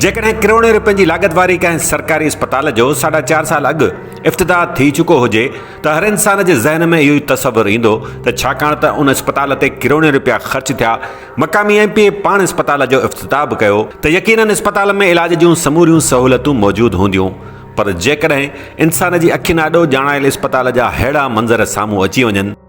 جيڪڏهن ڪروڙين روپين جي لاڳت واري ڪنهن سرڪاري اسپتال جو ساڍا چار سال اڳ افتتاح ٿي چڪو هجي ته هر انسان جي ذهن ۾ اهو ئي تصور ايندو ته ڇاڪاڻ ته ان اسپتال تي ڪروڙين روپيا خرچ ٿيا، مقامي ايم پي اي پاڻ اسپتال جو افتتاح به ڪيو ته يقينن اسپتال ۾ علاج جون سموريون سهولتون موجود هونديون پر جيڪڏهن انسان جي اکين آڏو ڄاڻايل اسپتال جا ههڙا منظر سامهون اچي وڃن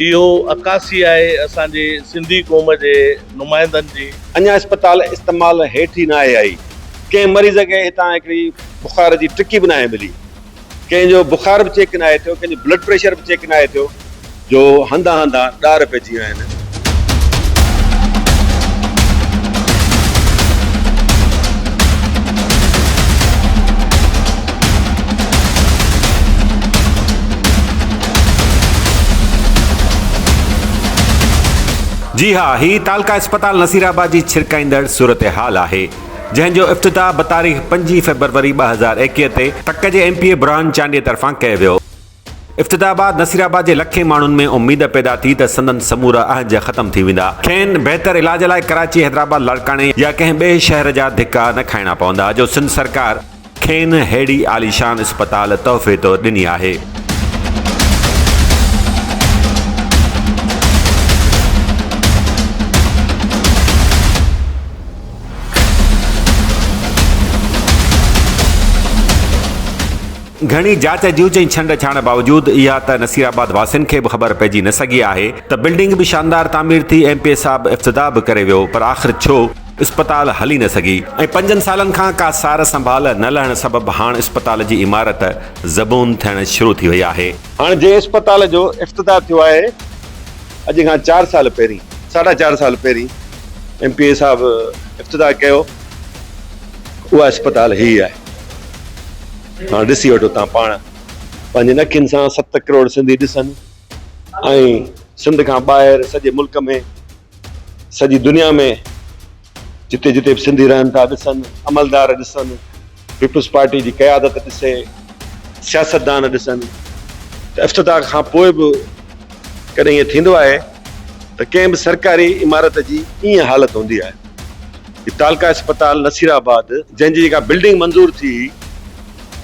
اهو عڪاسي آهي اسان جي سنڌي قوم جي نمائندن جي. اڃا اسپتال استعمال هيٺ ئي ناهي آئي، ڪنهن مريض کي هتان هڪڙي بخار جي ٽڪي به ناهي ملي، ڪنهن جو بخار به چيڪ ناهي ٿيو، ڪنهن جو بلڊ پريشر به چيڪ ناهي ٿيو جو هنڌان هنڌان ڏار پئجي ويا آهن. جي ها هي تعلقه اسپتال نصير آباد جي ڇرڪائيندڙ صورتحال آهي جنهن جو افتتاح بتاريخ پنجين فيبروري ٻه هزار ايڪيهه تي تڪ جي ايم پي اي برهان چانڊيي طرفان ڪيو ويو. افتتاح بعد نصير آباد جي لکين ماڻهن ۾ اميد پيدا ٿي ته سندن سمورا اهنج ختم ٿي ويندا، کين بهتر علاج لاء ڪراچي، حيدرآباد، لاڙڪاڻي يا ڪنهن ٻئي شهر جا ڌڪا نه کائڻا پوندا جو سنڌ سرڪار کين ههڙي عاليشان اسپتال تحفي طور ڏني آهي. گهڻي جاچ جوچ ۽ ڇنڊ ڇاڻ باوجود اها ته نصير آباد واسين کي به خبر پئجي نه سگهي آهي ته بلڊنگ به شاندار تعمير ٿي ايم پي اي صاحب افتتاح به ڪري ويو پر آخر ڇو اسپتال هلي نه سگهي ۽ پنجن سالن کان ڪا سار سنڀال نه لهڻ سبب هاڻ اسپتال جي عمارت زبون ٿيڻ شروع ٿي وئي آهي. هاڻ جنهن اسپتال جو افتتاح ٿيو آهي اڄ کان چار سال پهرين ساڍا چار سال پهرين ايم پي اي صاحب افتتاح ڪيو اها اسپتال هي آهي. هاڻ ڏسي وٺو تان پاڻ پنهنجين اکين سان ست ڪروڙ سنڌي ڏسن ۽ سنڌ کان ٻاهر سڄي ملڪ ۾ سڄي دنيا ۾ جتي جتي به سنڌي رهن ٿا ڏسن عملدار ڏسن پيپلز پارٽي جي قيادت ڏسي سياستدان ڏسن ته افتتاح کان پوء به ڪڏهن ائين ٿيندو آهي ته ڪنهن به سرڪاري عمارت جي ائين حالت هوندي آهي هي تعلقه اسپتال نصير آباد جنهن جي جيڪا بلڊنگ منظور ٿي هئي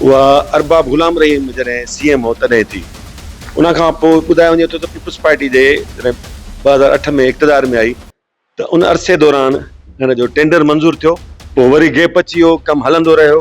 اها ارباب غلام رحيم جڏهن سي ايم هو تڏهن ٿي ان کان پوء ٻڌايو وڃي ٿو ته پيپلز پارٽي جي جڏهن ٻه هزار اٺ ۾ اقتدار ۾ آئي ته ان عرصي دوران هن جو ٽينڊر منظور ٿيو پوء وري گيپ اچي ويو ڪم هلندو رهيو.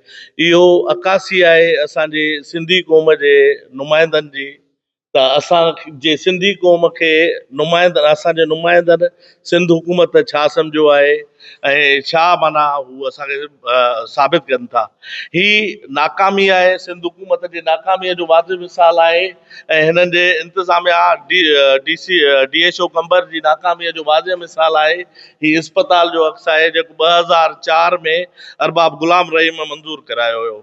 اهو عڪاسي آهي اسان جي سنڌي قوم جي نمائندن جي ته اسان جي سنڌي قوم کي نمائندن اسان جي نمائندن سنڌ حڪومت ڇا سمجهيو آهي ۽ ڇا معنيٰ هو اسان کي ثابت ڪن ٿا. هي ناڪامي آهي سنڌ حڪومت جي ناڪاميء جو واضح مثال آهي ۽ هنن جي انتظاميا D C D H O Qambar جي ناڪاميء جو واضح مثال آهي هي اسپتال جو عڪس آهي جيڪو ٻه هزار چار ۾ ارباب غلام رحيم منظور ڪرايو هيو.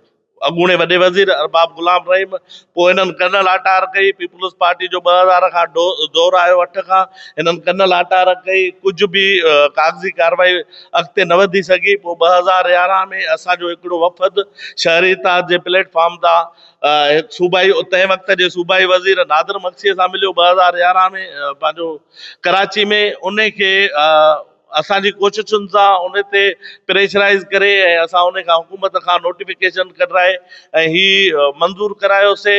اڳوڻي وڏي وزير ارباب غلام رحيم پوء هنن ڪنهن لاٽار ڪئي؟ پيپلز پارٽي جو ٻه هزار کان دور آيو اٺ کان هنن ڪنهن لاٽار ڪئي؟ ڪجهه به ڪاغذي ڪارروائي اڳتي نه وڌي سگهي. پوء ٻه هزار يارهن ۾ اسان جو هڪڙو وفد شهري اتحاد جي پليٽ فارم تان صوبائي تنهن وقت جي صوبائي وزير نادر مگسيء سان مليو ٻه هزار يارهن ۾ پنهنجو ڪراچي ۾ ان کي اسان جي ڪوششن سان ان تي پريشرائيز ڪري ۽ اسان ان کان حڪومت کان نوٽيفڪيشن ڪڍرائي ۽ هي منظور ڪرايوسي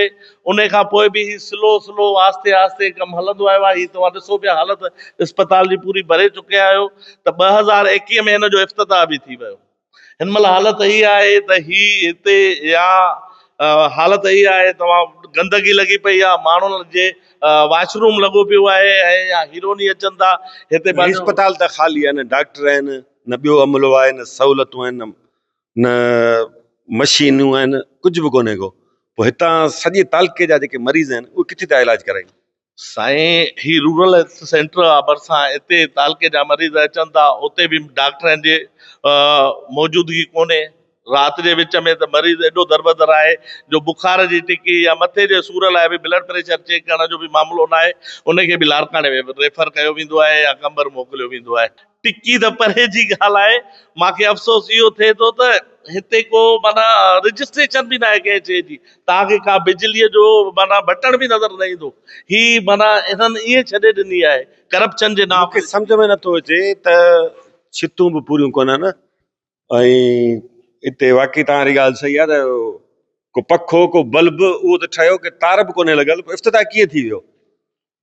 ان کان پوء به هي سلو سلو آهستي آهستي ڪم هلندو آيو آهي هي توهان ڏسو پيا حالت اسپتال جي پوري ڀري چڪي آهيو ته ٻه هزار ايڪيهه ۾ هن جو افتتاح به ٿي ويو هن مهل حالت هي آهي ته هي هتي يا حالت هي آهي ته توهان گندگي لڳي پئي آهي ماڻهن جي واش روم لڳو پيو آهي ۽ يا هيرو ني اچن ٿا هتي هي پنهنجو اسپتال ته خالي آهي نه ڊاڪٽر آهن نه ٻيو عملو آهي نه سهولتون آهن نه مشينون آهن ڪجهه به ڪونهي ڪو پوء هتان سڄي تعلقي جا جيڪي مريض آهن اهي ڪٿي ٿا علاج ڪرائين. سائين هي رورل هيلٿ سينٽر آ ڀرسان هتي تعلقي جا مريض اچن ٿا اتي به ڊاڪٽرن جي موجودگي ڪونهي رات جي وچ ۾ ته مريض ايڏو دربدر آهي جو بخار جي ٽڪي يا مٿي جي سور لاء به بلڊ پريشر چيڪ ڪرڻ جو به معاملو ناهي ان کي به لاڙڪاڻي ۾ ريفر ڪيو ويندو آهي يا قمبر موڪليو ويندو آهي ٽڪي ته پري جي ڳالهه آهي، مان کي افسوس اهو ٿئي ٿو ته هتي ڪو معنيٰ رجسٽريشن به ناهي ڪنهن شيء جي، توهان کي ڪا بجليء جو معنيٰ بٽڻ به نظر نه ايندو، هي معنيٰ انهن ائين ڇڏي ڏني آهي ڪرپشن جي نانء تي. مون کي سمجهه ۾ نٿو اچي ته ڇتون به پوريون ڪونهن ۽ هتي واقعي توهان ري ڳالهه صحيح آهي ته ڪو پکو ڪو بلب اهو ته ٺهيو ڪي تار به ڪونهي لڳل پوء افتتاح ڪيئن ٿي ويو.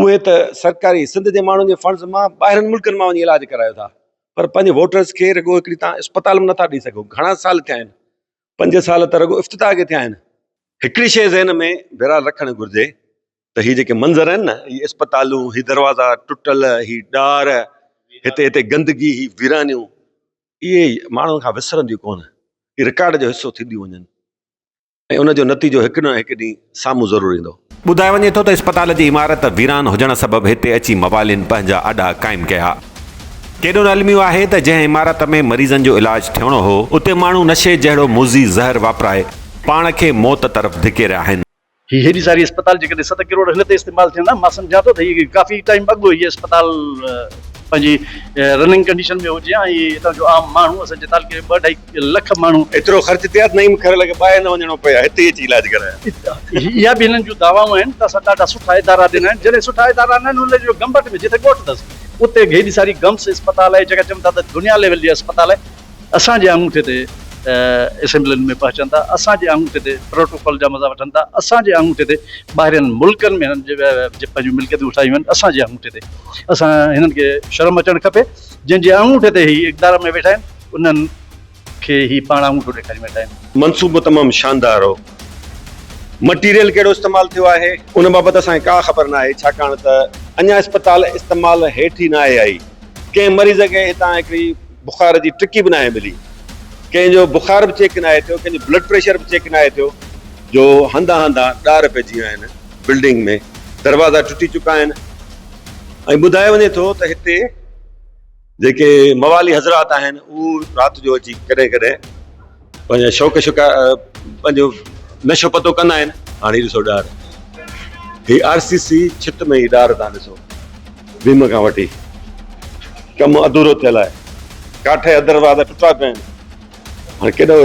اهي ته سرڪاري سنڌ جي ماڻهن جي فنڊز مان ٻاهرين ملڪن مان وڃي علاج ڪرايو ٿا پر پنهنجي ووٽرز کي رڳو هڪڙي توهان اسپتال به نٿا ڏئي سگهو گهڻا سال ٿيا آهن پنج سال ته رڳو افتتاح کي ٿيا آهن هڪڙي شيء ذهن ۾ بهرحال رکڻ گهرجي ته هي جيڪي منظر آهن نه هي اسپتالون هي دروازا ٽٽل هي ڏار هتي هتي گندگي هي ويرانيون اهي ماڻهن کان وسرنديون ڪونه رڪارڊ جو حصو ٿينديون وڃن ۽ ان جو نتيجو هڪ نه هڪ ڏينهن سامهون ضرور ايندو. ٻڌايو وڃي ٿو ته اسپتال جي عمارت ويران هجڻ سبب هتي اچي موالين پنهنجا اڏا قائم ڪيا. ڪيڏو نه الميو آهي ته جنهن عمارت ۾ مريضن جو علاج ٿيڻو هو، اتي ماڻهو نشي جهڙو موذي زهر واپرائي پاڻ کي موت طرف ڌڪي رهيا آهن. هي هيڏي ساري اسپتال جيڪڏهن ست ڪروڙ هن تي استعمال ٿين ها، مان سمجهان ٿو ته هي ڪافي ٽائيم اڳ هيء اسپتال پنهنجي رننگ ڪنڊيشن ۾ هجي ها ۽ هتان جو عام ماڻهو اسان جي تعلقي جو ٻه اڍائي لک ماڻهو ايترو خرچ ٿيا ته نعيم خيرالله کي ٻاهر نه وڃڻو پئي ها هتي ئي اچي علاج ڪرايا. اها به هنن جون دعوائون آهن ته اسان ڏاڍا سٺا ادارا ڏنا آهن جهڙي سٺا ادارا نه آهن ان جو گمبٽ ۾ جتي ڳوٺ اٿس اتي هيڏي ساري گمس اسپتال آهي جيڪا چون ٿا ته دنيا ليول جي اسپتال آهي اسان جي آڱوٺي تي اسيمبلين ۾ پهچن ٿا اسان جي آڱوٺي تي پروٽوڪول جا مزا وٺن ٿا اسان جي آڱوٺي تي ٻاهرين ملڪن ۾ هنن جي پنهنجون ملڪيتون ٺاهيون آهن اسان جي آڱوٺي تي اسان هنن کي شرم اچڻ کپي جن جي آڱوٺي تي هي اقدار ۾ ويٺا آهن انهن کي هي پاڻ آڱوٺو ڏيکاري وڃي ٽائيم. منصوبو تمام شاندار هو. مٽيريل ڪهڙو استعمال ٿيو آهي؟ ان بابت اسان کي ڪا خبر ناهي ڇاڪاڻ ته اڃا اسپتال استعمال هيٺ ئي ناهي آئي. ڪنهن مريض کي هتان هڪڙي بخار جي ٽڪي به ناهي ملي. ڪنهن جو بخار به چيڪ ناهي ٿيو، ڪنهن جو بلڊ پريشر به چيڪ ناهي ٿيو. جو هنڌان هنڌان ڏار پئجي ويا آهن، بلڊنگ ۾ دروازا ٽٽي چڪا آهن ۽ ٻڌايو وڃي ٿو ته هتي. جيڪي موالي حضرات آهن اهو رات جو اچي ڪڏهن ڪڏهن پنهنجا شوق شڪار پنهنجو نشو پتو ڪندا آهن هاڻي هي ڏسو ڏار هي آر سي سي ڇت ۾ هي ڏار تان ڏسو ويم کان وٺي ڪم ادھورو ٿيل آهي ڪاٺي ادر واد ٽٽا پيا آهن هاڻي ڪيڏو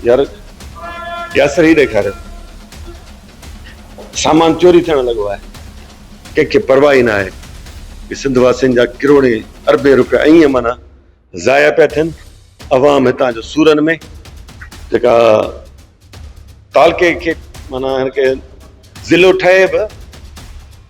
يار ياسر هي ڏيکاريو سامان چوري ٿيڻ لڳو آهي، ڪنهن کي پرواهه ئي نه آهي ته سنڌ واسين جا ڪروڙين اربين روپيا ائين معنيٰ ضايع پيا ٿين، عوام هتان جو سورن ۾ جيڪا تعلقي کي معنيٰ هن کي ضلعو ٺهي به.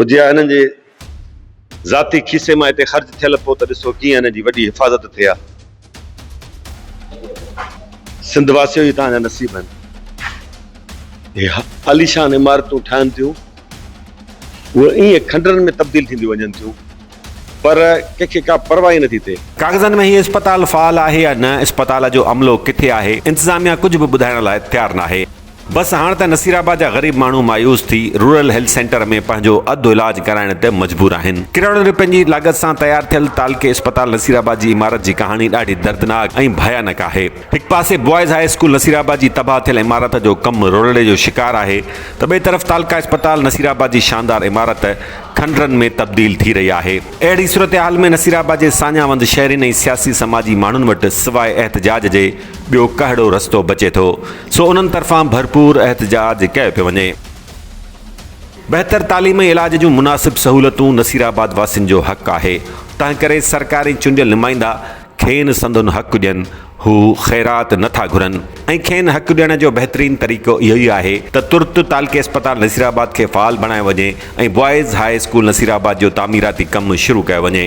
هجي ها هنن جي ذاتي کيسي مان هتي خرچ ٿيل پو ته ڏسو ڪيئن هنن جي وڏي حفاظت ٿئي ها سنڌ واسيو هي توهان جا نصيب آهن هي عليشان عمارتون ٺاهن ٿيون اهي ايئن کنڊرن ۾ تبديل ٿينديون وڃن ٿيون پر ڪنهن کي ڪا پرواهه ئي نٿي ٿئي. ڪاغذن ۾ هي اسپتال فعال آهي يا نه، اسپتال جو عملو ڪٿي آهي، انتظاميا ڪجهه به ٻڌائڻ لاء تيار ناهي. بس هاڻ ته نصيرآباد جا غريب ماڻهو مايوس ٿي رورل هيلٿ سينٽر ۾ پنهنجو اڌ علاج ڪرائڻ تي مجبور آهن. ڪروڙين رپين جي لاڳت سان تيار ٿيل تعلقي اسپتال نصيرآباد جي عمارت جي ڪهاڻي ڏاڍي دردناڪ ۽ ڀيانڪ آهي. هڪ پاسي boys high school Nasirabad جي تباهه ٿيل عمارت جو ڪم رولڙي جو شڪار آهي ته ٻئي طرف تعلقه اسپتال نصير آباد جي شاندار عمارت کنڊرن ۾ تبديل ٿي رهي آهي. اهڙي صورتحال ۾ نصير آباد جي ساڃاهه وند شهرين ۽ سياسي سماجي ماڻهن وٽ سواء احتجاج جي ٻيو ڪهڙو رستو بچي ٿو سو انهن طرفان ڀرپور احتجاج ڪيو پيو وڃي. بهتر تعليم ۽ علاج جون مناسب سهولتون نصير آباد واسين جو حق آهي تنهنڪري سرڪار ۽ چونڊيل نمائندا کين سندن حق ڏين، هو خيرات نه ٿا گهرن ۽ کين حق ڏيڻ جو بهترين طريقو اهو ئي آهي ته ترت تعلقي اسپتال نصيرآباد کي فعال بڻايو وڃي ۽ بوائز هاء اسڪول نصيرآباد جو تعميراتي ڪم شروع ڪيو وڃي.